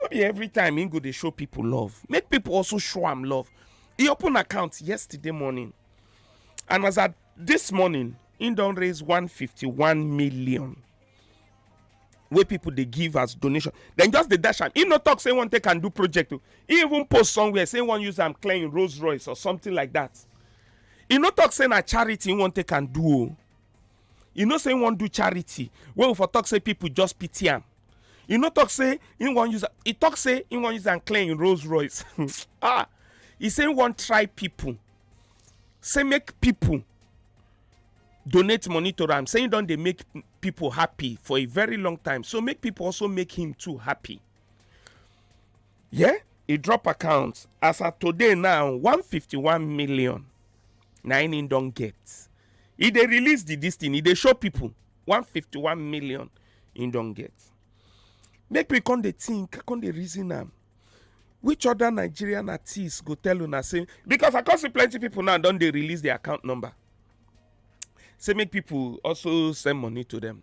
no be every time he go dey show people love make people also show am love he open account yesterday morning and as at this morning he don raise 151 million wey people dey give as donation dem just dey dash am he no talk say he wan take am do project o he even post somewhere say he wan use am clear him rolls royce or something like that he no talk say na charity he wan take am do o e no say he wan do charity wey we for talk say people just pity am e no talk say he wan use he talk say he wan use am clear him rolls royce ah he say he wan try people say make people donate money to am say he don dey make people happy for a very long time so make people also make him too happy yeah e drop account as at today now 151 million na im im don get e dey release the dis thing e dey show people 151 million im don get make we come dey think come dey reason am which other nigerian artist go tell una say because i come see plenty people now don dey release their account number say make people also send money to them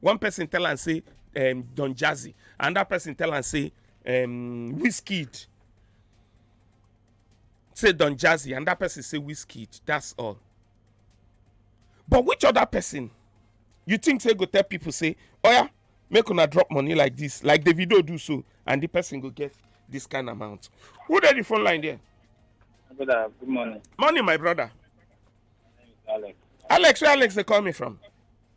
one person tell am say um, don jazzy another person tell am say um, wizkid say don jazzy another person say wizkid that's all but which other person you think say go tell people say oh yeah, make una drop money like this like the video do so and the person go get this kind amount who dey the phone line there. brother good morning. morning my brother. alex. alex where alex dey call me from.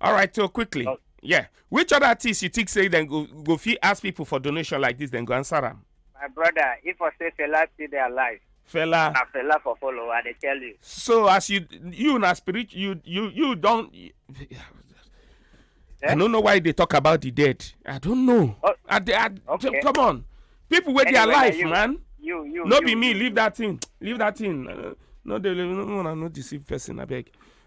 all right so quickly oh. yeah which other artist you think say then go go fit ask people for donation like this then go answer them. my brother if i say fela still dey alive fella na fella for follow i dey tell you so as you you na spirit you you you don eh? i don't know why they talk about the dead i don't know oh, I, I, okay. come on people wey anyway, their life you, man you you no you, be me you, leave you. that thing leave that thing uh, no dey no no no deceive person abeg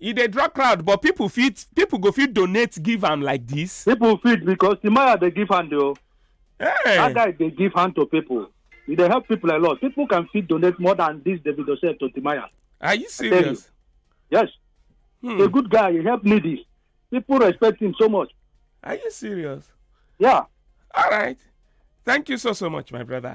e dey draw crowd but people fit people go fit donate give am like this. people fit because timaya dey give hand o that Hey. guy dey give hand to people e dey help people a lot people can fit donate more than this davido sef to timaya are you tell you. serious. yes Hmm. a good guy he help needy people respect him so much are you serious. yeah all right thank you so so much my brother.